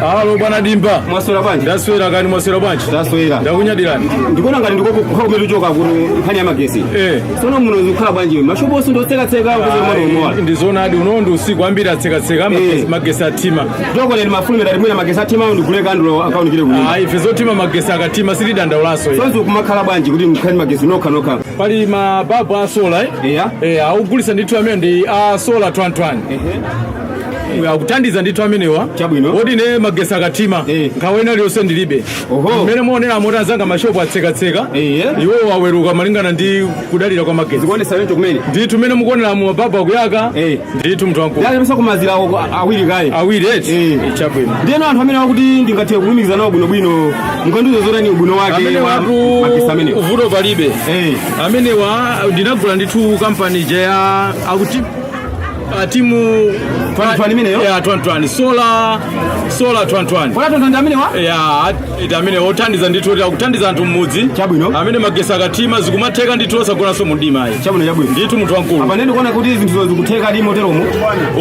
Alo bwana Dimba. Mwaswera bwanji? Ndaswera kani mwaswera bwanji? Ndaswera. Ndakunyadirani. Ndikuona ngati ndiko kukhala kumene uchoka kuno nkhani ya magetsi. Eh. Sono muno zikukhala bwanji iwe? Mashopo onse ndi otsekatseka kuti mwana umowa. Ndizonadi uno ndi usiku ambiri atsekatseka magetsi- Eh. magetsi athima. Nchoko lero mafulumira ndati mwina magetsi athima awo ndigule kandulo akaonekere kuno. Ayi ife zothima magetsi akathima sitidandaulanso. ife. Sonse kumakhala bwanji kuti mukhale ndi magetsi nokha nokha. Pali mababu a sola eh? Eya. Eh, akugulitsa ndithu amene ndi a sola twentewani. Ehe. akuthandiza ndithu amenewa Chabwino. moti ine magetsi akathima Eh. nkhawa ina liyonse ndilibe Oho. mmene mukuonera moti anzanga mashopu atsekatseka Eh. iwo aweruka malingana ndi kudalira kwa magetsi zikuonetsa wento kumene ndithu mmene mukuonera mu mababu akuyaka Eh. ndithu munthu wamkulu ndiye apatseni mazira awo awiri kaye awiri eti Eh. chabwino ndiyeno anthu amenewa kuti ndingathe kulumikizana nawo bwinobwino nkadziwa zotani ubwino wake amenewa watu magetsi amenewo vuto palibe Eh. amenewa ndinagula ndithu kampani ija ya akuti Ah, timu Twentewani imeneyo? ya twentewani sola sola twentewani Wala tonto ndi amenewa? ya ati amene othandiza ndithu kuti akuthandiza anthu mmudzi Chabwino. amene magetsi akathima zikumatheka ndithu osagonanso mumdima ayi Chabwino chabwino. ndithu munthu wamkulu Apa ndiye ndikuona kuti zinthu zikutheka lilimo moteromo.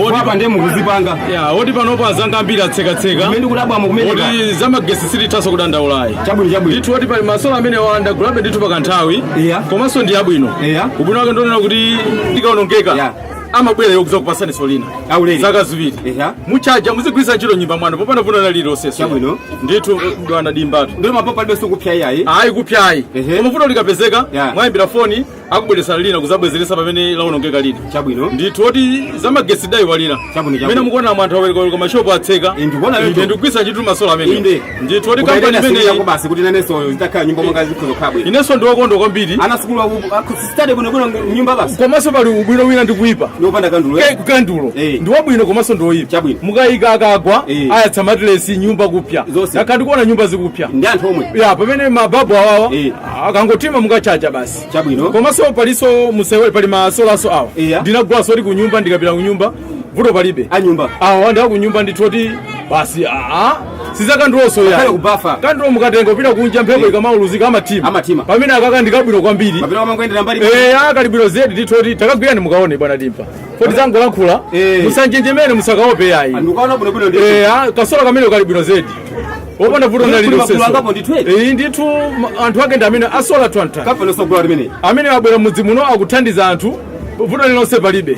Odi- Apa ndiye mukuzipanga. ya moti panopo anzanga ambiri atsekatseka Kumene kudabwa mukumene. ka. moti zamagetsi sitithanso kudandaula ayi Chabwino chabwino. ndithu moti pali masola amenewa ndagulabe ndithu pakanthawi Iya. komanso ndi abwino Iya. ubwino wake ndi wonena kuti likaonongeka Yeah. amabwera iwo kuzakupatsaninso lina Aulere. zaka ziwiri Eha. mutchaja muzigwiritsa ntchito nyumba mwanu popanda vuto lina lililonse Chabwino. ndithu bwana Dimbatu Ndio mapopa ndio sikupya yayi. ayi kupyayi Ehe. koma vuto likapezeka Yeah. mwaimbira foni akubweretserani lina kuzabwezeretsa pamene laonongeka lina Chabwino. ndithu moti zamagetsi ndaiwalira Chabwino, chabwino. mmene mukuonamu anthu aweruka mashopu atseka Eh, ndikuona Inde, lero. ndikugwiritsa ntchito masola amene Inde. ndithu moti kampani Ukaenda sisi imeneyi yako basi kuti nanenso zitakhala nyumba mwanga zikhoza kukhala bwino. inenso ndine wokondwa kwambiri Ana asukulu aku- aku- Sitadi kuno kuno nyumba basi. komanso pali ubwino wina ndi kuyipa Ndi opanda kandulo. Ke- kukandulo Eh. ndi wabwino komanso ndi woyipa Chabwino. mukayika akagwa Eh. ayatsa matilesi nyumba kupya Zonse. ndakhala ndikuona nyumba zikupya Ndi anthu omwe. ya pamene mababu awawa Eh. akangothima mukatchaja basi Chabwino. komanso palinso musewere pali masolanso awa Eh, ya. ndinagulanso moti kunyumba ndikapita kunyumba vuto palibe anyumba awa ndi akunyumba ndithu moti basi aa si zakandulonso Ngakhale kubafa. kandulo mukatenga kupita kunja mphepo ikamauluzika amathima Amathima. pamene akaka ndikabwino kwambiri kapena wamangoendera mbali eya kali bwino zedi ndithu moti takagwirani mukaone bwana Dimba osati zangolankhula Eh. musanjenjemere musakaope yayi ndikuona bwinobwino ndi eya kasola kameneka kali bwino zedi kopanda vuto Kuli magulu angapo nalilonseso ndithu eti. iyi ndithu ma- anthu ake ndi amenewa a sola twente kafanenso gula limene amene abwera mudzi muno akuthandiza anthu vuto lilonse palibe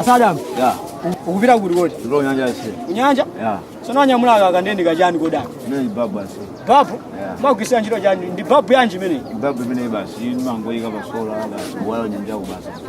asadam ya ukupita kuti kodi ndi kunyanja yase kunyanja ya tsono wanyamula aka kanthu kachani kodi ndi babu basi babu Yeah. mumagwiritsa ntchito chani ndi babu yanji imeneyi ndi babu imene basi mumangoyika pasola basi yawala nyanja yako basi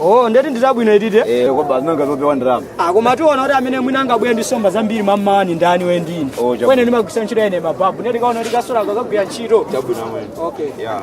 oh nde kuti ndi zabwino itite Eh, kwa basi nanga zopewa ndalama. Ah, koma tiona kuti amene mwina angabwere ndi nsomba zambiri mamawa ni ndani iwe ndi ine Oh, chabwino. koma ine ndimagwiritsa ntchito ine mababu nde tikaona kuti kasola kakagwira ntchito Chabwino amwene. okay Yeah.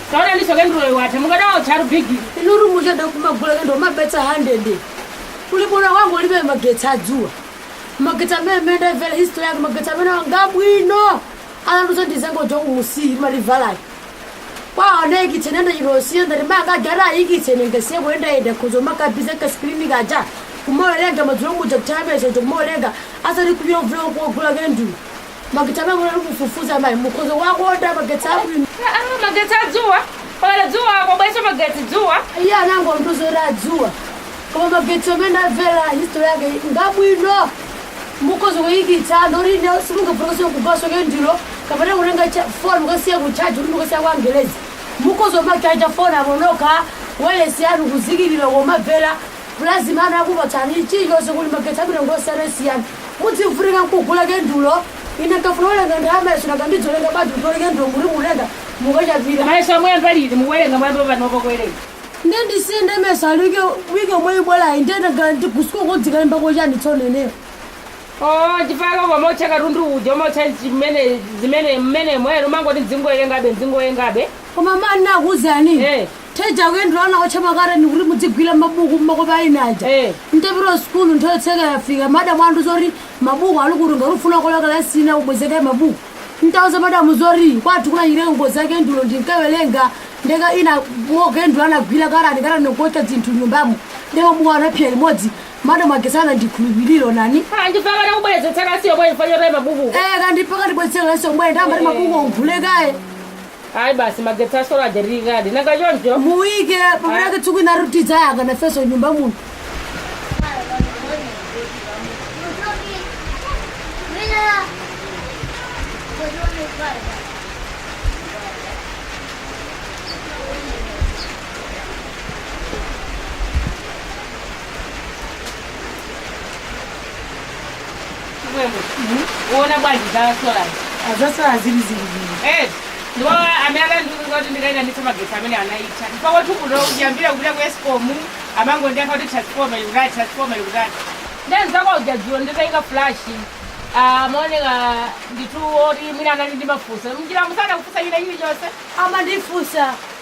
Taonani so kenduloyo yatha, mukadaotchatu bigili. Inutu muchedwa kumagula kendulo mupeze 100 kuli bwino kungolipira magetsi a dzuwa. Magetsi amene mmene ndaimvera history yake magetsi amenewa ngabwino anandiuza ndi jongo la kumsika limagulitsalo. Koma anaikitsa nenda chilosiya ngati maka aja ati ayikitse nenge musiye kuyendayenda mukhoza kumakhala busy ka screen kaja kumawerenga madzulo muja nthawi ya mayeso uja kumawerenga osati kupita kugula kogula kendulo. magetsi amene munali kufufuza amayi mukhoza kuwakonda magetsi abwino Ah, ah, magetsi adzuwa pakati dzuwa pabwinoso magetsi dzuwa iye anangondiuza kuti adzuwa koma magetsi amene ndamvera history yake ngabwino mukhoza kuyikitsa anthu kuti inu simungafunikenso kugulaso kendulo kapena kutenga cha- foni mukasiya kuchaji kuti mukasiya kwa angelezi mukhoza kumachaja foni pakhomo ka wailesi yanu kulumikiza kumamvera Gula zimene anakupatsani, chilichonse kuti magetsi abwino ndi osiyanasiyana. Mudzivutika nkugula kendulo, ine nkafuna kuwerenga nthawi ya mayeso nanga ndidzawerenga bwanji kuti opanda kendulo mukuti mukutenga mukachajira. Mayeso muyamba liti mukuwelenga muyamba panopa kuwelenga. Nde ndisiye nde mayeso ali wiki wiki yomwe yikubwelayi nde nanga ndi ku school ko ndikalembako chani tsono ineyo. Oooh mpaka kumaotcha katundu uja umaotcha zimene zimene mmenemo ere umangoti ndizingowerengabe ndizingowerengabe. Koma man nakuuzani. Eeh. Paja kendulo anaotcha makatani kuti mudzigwira mabuku makope a ine aja Eh. ntapita ku sukulu nthawi yotsekera yafika madam andiuza zoti mabuku ali kuti ngati ufuna kulowa kalasi ina ubwezeke mabuku ntauza madamu zoti kwathu kunachitika ngozi ya kendulo ndinkawerenga ndekha ine moto wa kendulo anagwira katani katani kuotcha zinthu mnyumbamo ndi mabuku anapsa limodzi madamu sanandikhulupirire ine mpaka nakubwerezetsa kalasi yomweyo chifukwa chotaya mabuku Eh, mpaka anandibwerezetsa kalasi omwe ndamati mabuku ongobwereka aja ayi basi magetsi a sola aja tiikedi nanga choncho mwina penapake tsiku lina tidzayaka nafeso mnyumba muno chimwemwe uona bwanji za solazi aa za sola zili zili zili Eh, ndipo amene akandiuza kuti ndikaitanitsa magetsi amene anaitha ndipo kwathu kuno kuyambira kupita ku escom amangondiyankha kuti transformer ikutati transformer ikutati nde nzako uja dzulo nditaika flash amaoneka ndithu oti mwina anali ndi mafunso mnjiramu sanakufunse china chilichonse amandifunsa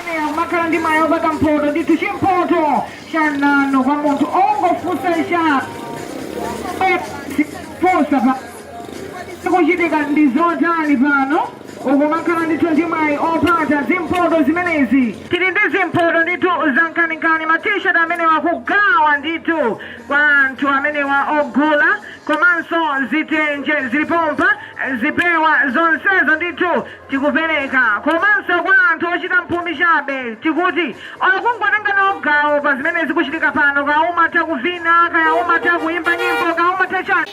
Ameneyo kumakhala ndi mwayi opata mphoto ndithu chimphoto cha nanu kwa munthu ongofunsa cha funsa pakuchitika ndi zotani pano ukumakhala ndithu ndi mwayi opata zimphoto zimenezi tili ndi zimphoto ndithu zankhaninkhani ma t-shirt amenewa kugawa ndithu kwa anthu amenewa ogula komanso zitenje zili pompa zipewa zonsezo ndithu tikupereka komanso kwa anthu ochita mphumi chabe tikuti okungotenga nawo gawo pa zimene zikuchitika pano kaya umatha kuvina kaya umatha kuimba nyimbo kaya umatha chani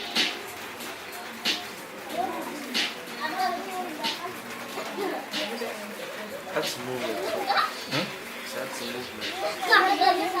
That's movement. Hmm? That's movement.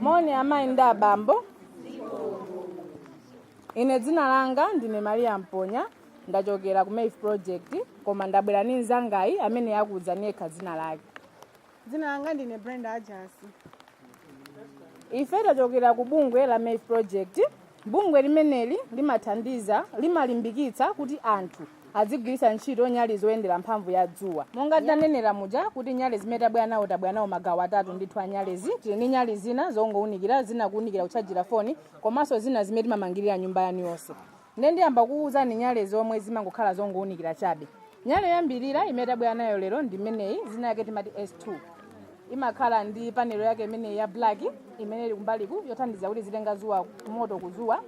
moni amayi ndi abambo ine dzina langa ndine maria mponya ndachokera ku maeve project koma ndabwera ndi mzangayi amene akuuzani yekha dzina lake dzina langa ndine brenda ajasi ife tachokera ku bungwe la maeve project bungwe limeneli limathandiza limalimbikitsa kuti anthu azigwiritsa ntchito nyali zoyendera mphamvu ya dzuwa monga tanenera muja kuti nyali zimene tabwera nawo tabwera nawo magawo atatu ndithu a nyalezi tili ndi nyali zina zongounikira zina kuunikira kutchajira foni komanso zina zimene timamangirira nyumba yanu yonse Nde ndiyamba kukuuzani nyale zomwe zimangokhala zongounikira chabe. Nyale yoyambirira imene tabwera nayo lero ndi imeneyi, dzina lake timati S2. Imakhala ndi panelo yake imeneyi ya black imene ili kumbaliku yothandiza kuti izitenga dzuwa moto ku dzuwa.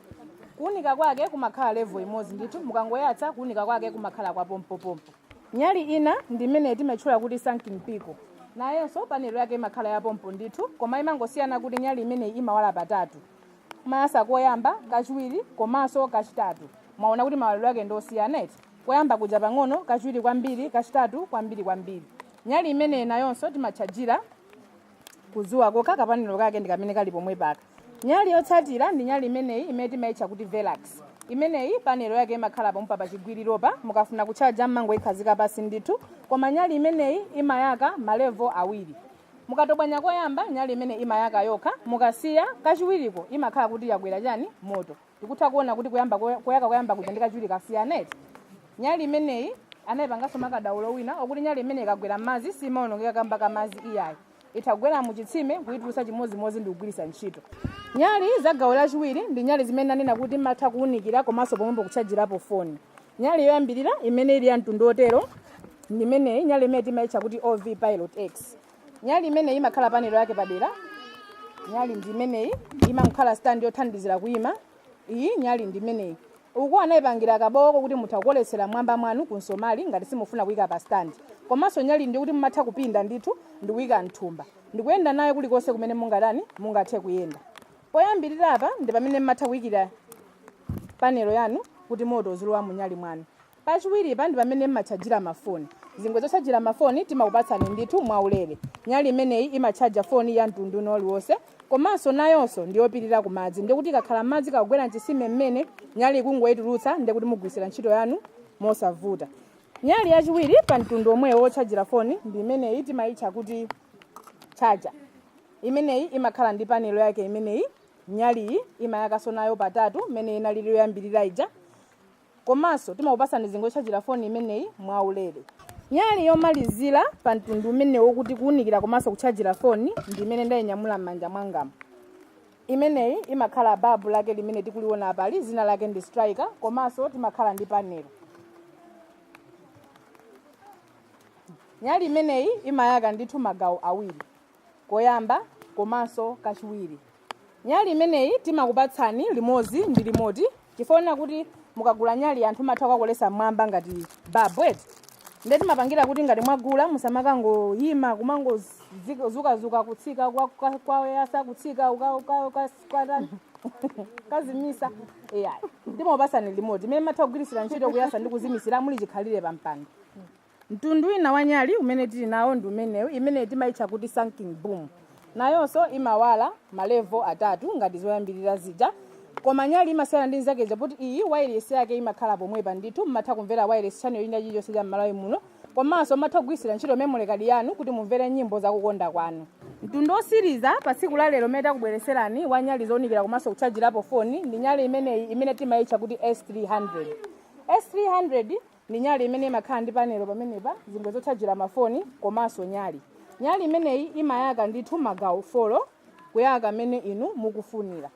Kuunika kwake kumakhala level imodzi ndithu, mukangoyatsa kuunika kwake kumakhala kwa pompopompo. Nyali ina ndi imeneyi timaitchula kuti Sun King pico. Nayonso panelo yake imakhala ya pompo ndithu, koma imangosiyana kuti nyali imeneyi imawala patatu. mumayatsa koyamba kachiwiri komanso kachitatu mwaona kuti mawalidwe ake ndi osiyana eti koyamba kuja pang'ono kachiwiri kwambiri kachitatu kwambiri kwambiri nyali imeneyi nayonso timatchajira kuzuwa kokha kapanelo kake ndi kamene kali pomwepaka nyali yotsatira ndi nyali imeneyi imene timayitcha kuti velax imeneyi panelo yake imakhala pompa pa chigwiriropa mukafuna kutchaja mmangoyikhazika pasi ndithu koma nyali imeneyi imayaka malevo awiri mukatobwanya koyamba nyali imene imayaka yokha mukasiya kachiwiriko imakhala kuti yakwera chani moto tikutha kuona kuti kuyamba koy- koyaka koyamba kuja ndi kachiwiri kasiyana eti nyali imeneyi anayipanganso makadaulo wina okuti nyali imeneyi ikagwera m'madzi simaonongeka kamba ka madzi iyayi itagwera mu chitsime kuyitulutsa chimodzimodzi ndi kugwiritsa ntchito nyali za gawo lachiwiri ndi nyali zimene anena kuti matha kuwunikira komanso pomwepo kutchajirapo foni Nyali yoyambirira imene ili ya mtundu wotero ndi imeneyi, nyali imene timaitcha kuti OV Pilot X. Nyali imeneyi imakhala panelo yake padera. Nyali ndi imeneyi, imakhala stand yothandizira kuima. Iyi nyali ndi imeneyi. Uku anaipangira kabowoko kuti mutha kukoletsera m'mwamba mwanu ku nsomali ngati simufuna kuika pa stand. Komanso nyali ndi kuti mumatha kupinda ndithu ndi kuika m'thumba. Ndi kuyenda nayo kulikonse kumene mungatani, mungathe kuyenda. Poyambirira apa ndi pamene mumatha kuikira panelo yanu kuti moto uzilowa mu nyali mwanu. Pachiwiripa ndi pamene m'matchajira ma foni. Zingwe zotchajira ma foni timakupatsani ndithu mwa ulere. Nyali imeneyi imatchaja foni ya mtundu wina uliwonse komanso nayonso ndi yopirira ku madzi ndi kuti ikakhala m'madzi ikakugwera m'chisime m'mene, nyali kungoitulutsa ndi kuti mugwiritsira ntchito yanu mosavuta. Nyali yachiwiri pa mtundu womwewo wotchajira foni ndi imeneyi timaitcha kuti charger. Imeneyi imakhala ndi panelo yake imeneyi nyaliyi imayakanso nayo patatu mmene inalili yoyambirira ija komanso timakupasani zingwe yotchajira foni imeneyi mwaulere nyali yomalizira pa mtundu umenewu wokuti kuwunikira komanso kutchajira foni ndi imene ndayinyamula m'manja mwangamu imeneyi imakhala babu lake limene tikuliona apali dzina lake ndi striker komanso timakhala ndi panelo nyali imeneyi imayaka ndithu magawo awiri koyamba komanso kachiwiri nyali imeneyi timakupatsani limodzi ndi limoti chifukwa kuti mukagula nyali anthu matha kukakolesa mmwamba ngati babu eti nde timapangira kuti ngati mwagula musamakangoyima kumangodzukadzuka kutsika kwa- kwa- kwayasa kutsika uka- uka- uka- kwatani kazimisa ai timakupatsani limoti imene matha kugwiritsira ntchito kuyasa ndi kuzimisira muli chikhalire pampando mtundu wina wa nyali umene tili nawo ndi umenewu imene timaitcha kuti sun king boom nayonso imawala malevo atatu ngati zoyambirira zija koma nyali imasiyana ndi nzake zija poti iyi wireless yake imakhala pomwepa ndithu mmatha kumvera wireless channel ina chilichonse cha mmalawi muno komanso mmatha kugwiritsira ntchito memory card yanu kuti mumvere nyimbo zakukonda kwanu mtundu osiriza pa tsiku la lero umene takubweretserani wa nyali zounikira komanso kutchajirapo foni ndi nyali imeneyi imene timaitcha kuti s300 s300 Ndi nyali imene imakhala ndi panelo pamenepa, zingwe zotchajira mafoni komanso nyali. Nyali imeneyi imayaka ndithu magawo folo kuyaka mmene inu mukufunira.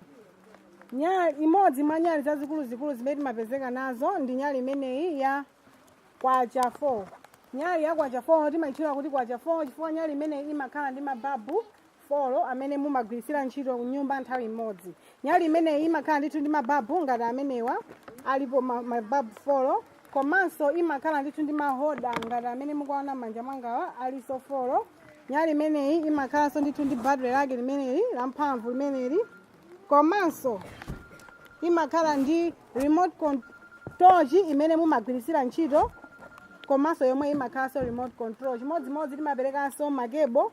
Nyali, imodzi mwa nyali zazikuluzikulu zimene timapezeka nazo ndi nyali imeneyi ya kwacha 4. Nyali ya kwacha 4 timaitchula kuti kwacha 4 chifukwa nyali imeneyi imakhala ndi mababu folo amene mumagwirisira ntchito kunyumba nthawi imodzi nyali imeneyi imakhala ndithu ndi mababu ngati amenewa alipo ma- mababu folo komanso imakhala ndithu ndi mahoda ngati amene mukuwaona manja mwangawa alinso folo nyali imeneyi imakhalanso ndithu ndi batire lake limeneli lamphamvu limeneli komanso imakhala ndi remote control imene mumagwirisira ntchito komanso yomwe imakhalanso remote control chimodzimodzi timaperekanso makebo